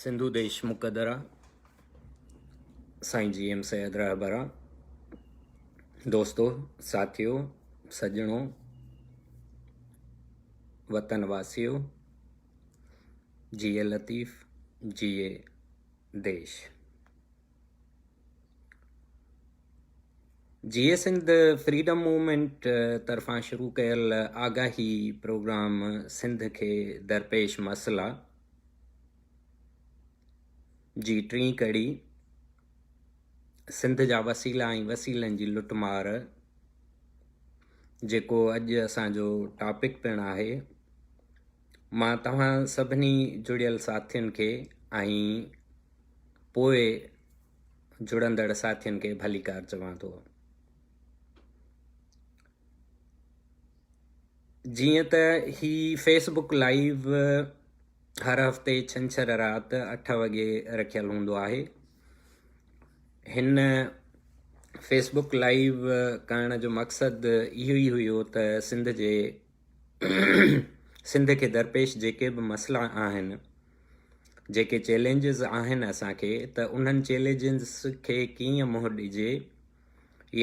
سنڌو ديش مقدرا سائين G M Syed رهبرا دوستو ساٿيو سڄڻو وطن واسيو جي لطيف جي ديش جيئي سنڌ فريڊم موومينٽ طرفان شروع ڪيل آگاهي پروگرام سنڌ کي درپيش مسئلا جي ٽين ڪڙي سنڌ جا وسيلا ۽ وسيلن جي لٽ مار جيڪو اڄ اسان جو ٽاپڪ پڻ آهي مان توهان سڀني جڙيل ساٿين کي ۽ پوء جڙندڙ ساٿين کي ڀليڪار چوان ٿو. جيئن ته هي فيس بڪ لائيو هر هفتي ڇنڇر رات اٺ وڳي رکيل هوندو آهي هن فيس بڪ لائيو ڪرڻ جو مقصد اهو ئي هيو ته سنڌ جي سنڌ کي درپيش جيڪي به مسئلا آهن جيڪي چئلينجز آهن اسان کي ته انهن چئلينجز کي ڪيئن منهن ڏجي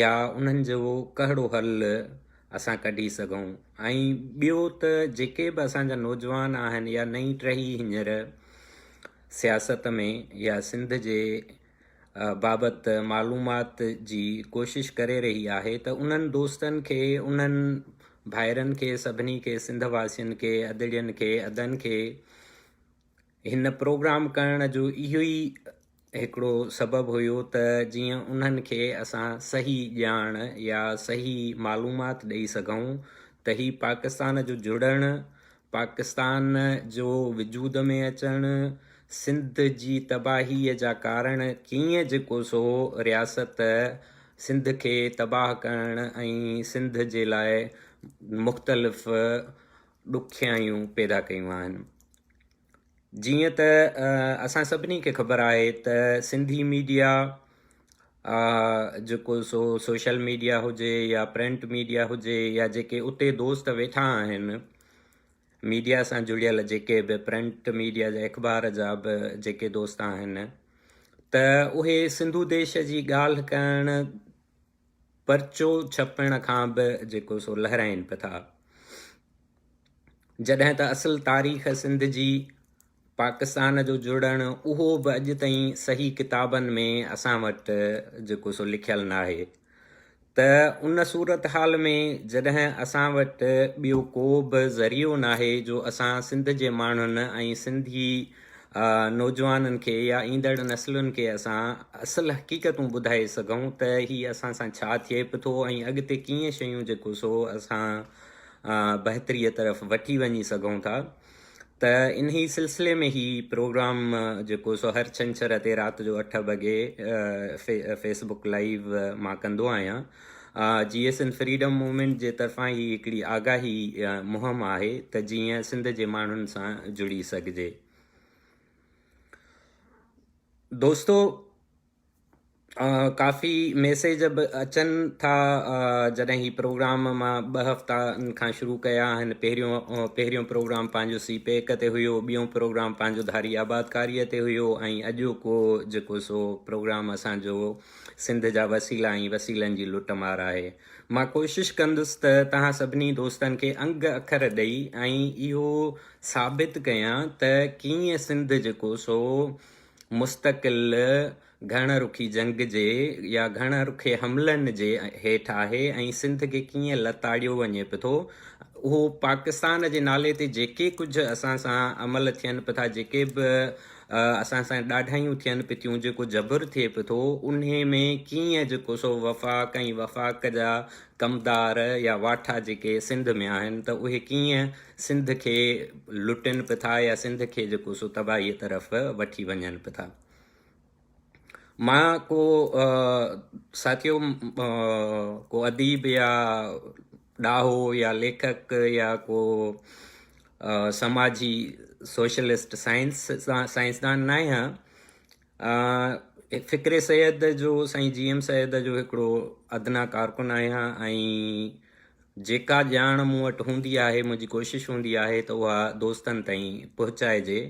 يا انهن جو ڪهڙو حل اسان ڪڍي سگهون ۽ ٻيو ته جيڪي به اسان جا نوجوان آهن يا نئين ٽهي هينئر سياست ۾ يا سنڌ جي بابت معلومات جي ڪوشش ڪري رهي آهي ته انهن دوستن کي انهن ڀائرن کي سڀني کي سنڌ واسين کي ادڙين کي ادن کي هن پروگرام ڪرڻ جو اهو ئي هڪڙو سبب هيو ته جيئن انهن کي اسان صحيح ڄاڻ يا صحيح معلومات ڏئي سگهون ته هي پاڪستان جو جڙڻ پاڪستان جو وجود ۾ اچڻ، سنڌ جي تباهيء جا ڪارڻ ڪيئن جيڪو سو رياست سنڌ کي تباهه ڪرڻ ۽ سنڌ جي لاء مختلف ڏکيائيون پيدا ڪيون آهن. جيئن ته اسان سڀني کي خبر آهي ته سنڌي ميڊيا جيڪو سو سوشل ميڊيا هجي يا پرنٽ ميڊيا هجي يا جيڪي اتي دوست ويٺا آهن ميڊيا سان جڙيل جيڪي به پرنٽ ميڊيا جا اخبار جا به جيڪي دوست آهن ته اهي سنڌو ديش جي ڳالهه ڪرڻ پرچو ڇپڻ کان به جيڪو سو لهرائين پئي ٿا. جڏهن ته اصل تاريخ سنڌ جي پاڪستان جو جڙڻ اهو به اڄ تائين صحيح ڪتابن ۾ اسان وٽ جيڪو سو لکيل ناهي ته ان صورتحال ۾ جڏهن اسان وٽ ٻيو ڪو به ذريعو ناهي جو اسان سنڌ جي ماڻهن ۽ سنڌي نوجوانن کي يا ايندڙ نسلن کي اسان اصل حقيقتون ٻڌائي سگهون ته هي اسان سان ڇا ٿئي به ٿو ۽ اڳتي ڪيئن شيون جيڪو سو اسان بهتري طرف وٺي وڃي سگهون ٿا ته انهي سلسلي ۾ هي پروگرام جيڪو سو هر ڇنڇر تي رات جو اٺ وڳي فيسبڪ لائيو مان ڪندو آهيان J S N freedom movement جي طرفان هي هڪڙي آگاهي مهم آهي ته جيئن سنڌ جي ماڻهن سان جڙي سگهجي. دوستو ڪافي ميسيج به اچن ٿا جڏهن هي پروگرام مان ٻه هفتا کان شروع ڪيا آهن پهريون پهريون پروگرام پنهنجو سي پيڪ تي هيو ٻيون پروگرام پنهنجو ڌاري آبادڪاري تي هيو ۽ اڄوڪو جيڪو سو پروگرام اسانجو سنڌ جا وسيلا ۽ وسيلن جي لٽ مار آهي. مان ڪوشش ڪندس ته توهان سڀني دوستن کي انگ اکر ڏئي ۽ اهو ثابت ڪيان ته ڪيئن سنڌ جيڪو سو مستقل گهڻ رخي جنگ جي يا گهڻ رخي حملن جي هيٺ آهي ۽ سنڌ کي ڪيئن لتاڙيو وڃي پٿو اهو پاڪستان جي نالي تي جيڪي ڪجهه اسان سان عمل ٿين پٿا جيڪي به اسان سان ڏاڍايون ٿين پتيون جيڪو جبر ٿئي پتو انهي ۾ ڪيئن جيڪو سو وفاق ۽ وفاق جا ڪمدار يا واٺا جيڪي سنڌ ۾ آهن ته اهي ڪيئن سنڌ کي لٽين پٿا يا سنڌ کي جيڪو سو تباهي طرف وٺي وڃن پٿا مان ڪو ساٿيو ڪو اديب يا ڏاهو يا ليکڪ يا ڪو سماجي سوشلسٽ سائنس سائنسدان نه آهيان فڪري سيد جو سائين جي ايم سيد جو هڪڙو ادنا ڪارڪن آهيان ۽ جيڪا ڄاڻ مون وٽ هوندي آهي منهنجي ڪوشش هوندي آهي ته اها دوستن تائين پهچائجي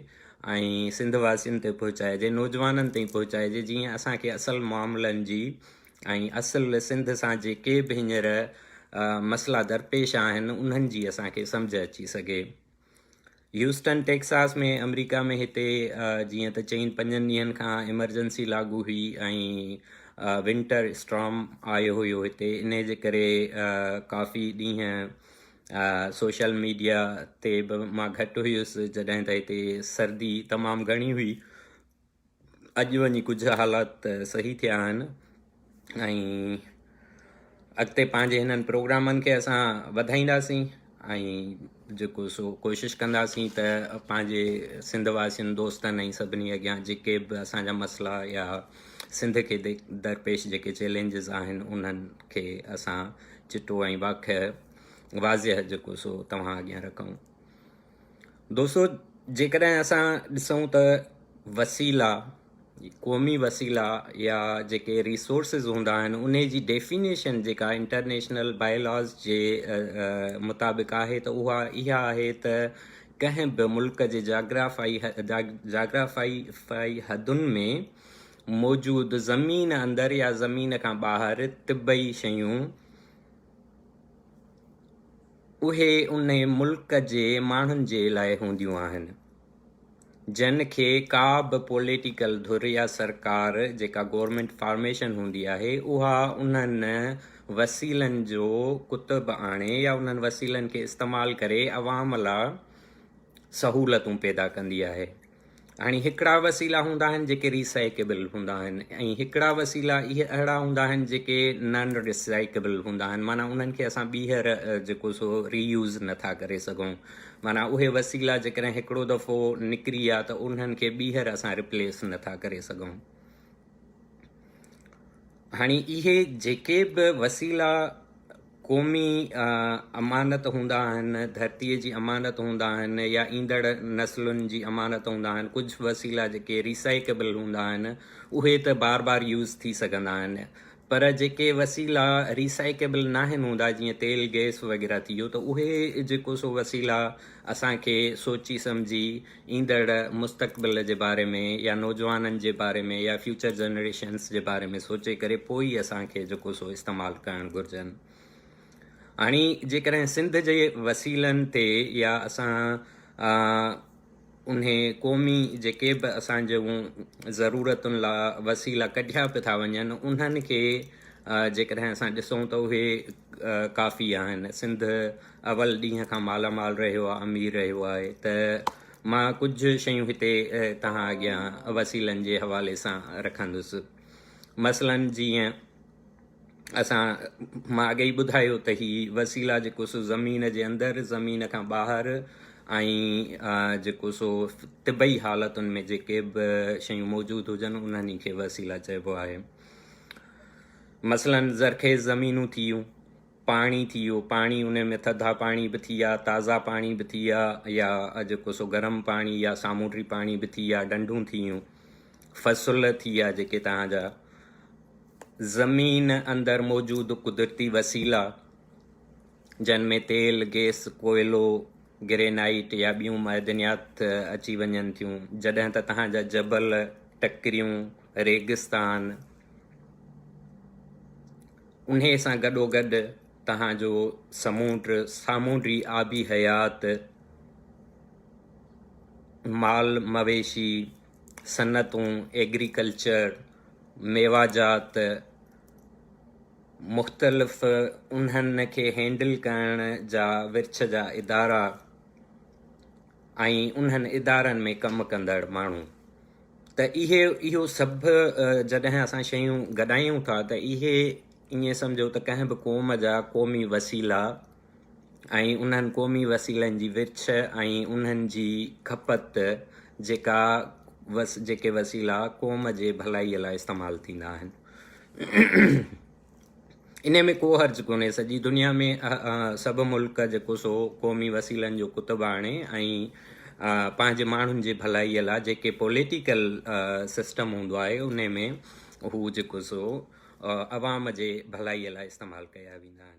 ۽ سنڌ واسين تائين پهچائجي نوجوانن تائين پهچائجي جيئن اسانکي اصل معاملن جي ۽ اصل سنڌ سان جيڪي به هينئر مسئلا درپيش آهن انهن جي اسان کي سمجهه اچي سگهي. هيوسٽن ٽيڪساس ۾ آمريڪا ۾ هتي جيئن ته چئين پنجن ڏينهن کان ايمرجنسي لاڳو هئي ۽ ونٽر اسٽرام آيو هيو هتي انهي جي ڪري ڪافي ڏينهن سوشل ميڊيا تي به مان گهٽ هيس جڏهن ته هتي سردي تمام گهڻي هئي اڄ وڃي ڪجهه حالات صحيح ٿيا آهن ۽ اڳتي پنهنجي هنن پروگرامن کي اسان وڌائينداسين ۽ جيڪو سو ڪوشش ڪنداسين ته پنهنجي سنڌ واسين دوستن ۽ سڀني اڳيان جيڪي به اسان جا مسئلا يا سنڌ کي درپيش جيڪي چيلنجز آهن انهن کي اسان چٽو ۽ واقع واضح جيڪو سو توهان اڳيان رکون دوستو جيڪڏهن اسان ڏسون ته وسيلا قومي وسيلا يا جيڪي ريسورسز هوندا آهن ان جي ڊيفينيشن جيڪا انٽرنيشنل بايلاز جي مطابق آهي ته اها اها آهي ته ڪنهن به ملڪ جي جاگرافائي جاگرافائي حدن ۾ موجود زمين اندر يا زمين کان ٻاهر طبعي شيون اهي ان ملڪ جي ماڻهن جي لاء هونديون آهن جن کي ڪا به پوليٽيڪل ڌر يا سرڪار جيڪا گورنمينٽ فارميشن هوندي آهي اها انهن وسيلن جو ڪتب آڻي يا انهن وسيلن کي استعمال ڪري عوام لا سهولتون پيدا ڪندي آهي. يعني هڪڙا وسيلا هوندا آهن جيڪي ري سائيڪيبل هوندا آهن ۽ هڪڙا وسيلا اهي اهڙا هوندا آهن جيڪي نان ري سائيڪيبل هوندا آهن معنيٰ انهن کي اسان ٻيهر جيڪو سو ري يوز نٿا ڪري سگهون معنيٰ اهي وسيلا جيڪڏهن هڪڙو دفعو نڪري ويا ته انهن کي ٻيهر اسان ريپليس نٿا ڪري سگهون هاڻي اهي جيڪي به وسيلا قومي امانت هوندا آهن، ڌرتيء جي امانت هوندا آهن يا ايندڙ نسلن جي امانت هوندا آهن، ڪجهه وسيلا جيڪي Recycable هوندا آهن اهي ته بار بار يوز ٿي سگهندا آهن پر جيڪي وسيلا Recycable ناهن هوندا جيئن تيل گئس وغيره ٿي ويو ته اهي جيڪو سو وسيلا اسان کي سوچي سمجهي ايندڙ مستقبل جي باري ۾ يا نوجوانن جي باري ۾ يا فيوچر جنريشنس جي باري ۾ سوچي ڪري پوء ئي اسان کي جيڪو سو استعمال ڪرڻ گهرجن. هاڻي جيڪڏهن سنڌ جي وسيلن تي يا اسان انهي قومي جيڪي به اسان جون ضرورتن لا وسيلا ڪڍيا به ٿا وڃن انهن کي جيڪڏهن اسان ڏسون ته اهي ڪافي آهن سنڌ اول ڏينهن کان مالا مال رهيو آ امير رهيو آهي ته مان ڪجهه شيون هتي توهان اڳيان وسيلن جي حوالي سان رکندس مثلا جيئن اسان مان اڳي ئي ٻڌايو ته هي وسيلا جيڪو سو زمين جي اندر زمين کان ٻاهر ۽ جيڪو سو طبعي حالتن ۾ جيڪي به شيون موجود هجن انهن کي وسيلا چئبو آهي مثلا زرخيز زمينون ٿيون پاڻي ٿي ويو، پاڻي ان ۾ ٿڌا پاڻي به ٿي ويا، تازا پاڻي به ٿي ويا يا جيڪو سو گرم پاڻي يا سامونڊي پاڻي به ٿي ويا، ڏنڍون ٿي ويون، فصل ٿي ويا جيڪي توهان جا، زمين اندر موجود قدرتي وسيلا جن ۾ تيل، گيس، ڪوئلو، گرينائيٽ يا ٻيون معدنيات اچي وڃن ٿيون، جڏهن ته توهان جا جبل، ٽڪريون، ريگستان، انهيء سان گڏوگڏ توهان جو سمونڊ، سامونڊي آبي حيات، مال مويشي، صنعتون، ايگريڪلچر، ميواجات، مختلف انهن کي هينڊل ڪرڻ جا ورڇ جا ادارا، ۽ انهن ادارن ۾ ڪم ڪندڙ ماڻهو ته اهي اهو سڀ جڏهن اسان شيون گڏايون ٿا ته اهي ائين سمجهو ته ڪنهن به قوم جا قومي وسيلا ۽ انهن قومي وسيلن جي ورڇ ۽ انهن جي کپت جيڪا جيڪي وسيلا قوم جي ڀلائي لاء استعمال ٿيندا آهن انهيء ۾ ڪو حرج ڪونهي. سڄي دنيا ۾ سڀ ملڪ جيڪو سو قومي وسيلن جو ڪتب آڻي ۽ پنهنجي ماڻهن جي ڀلائيء لاء جيڪي پوليٽيڪل سسٽم هوندو آهي انهيء ۾ هو جيڪو سو عوام جي ڀلائيء لاء استعمال ڪيا ويندا آهن.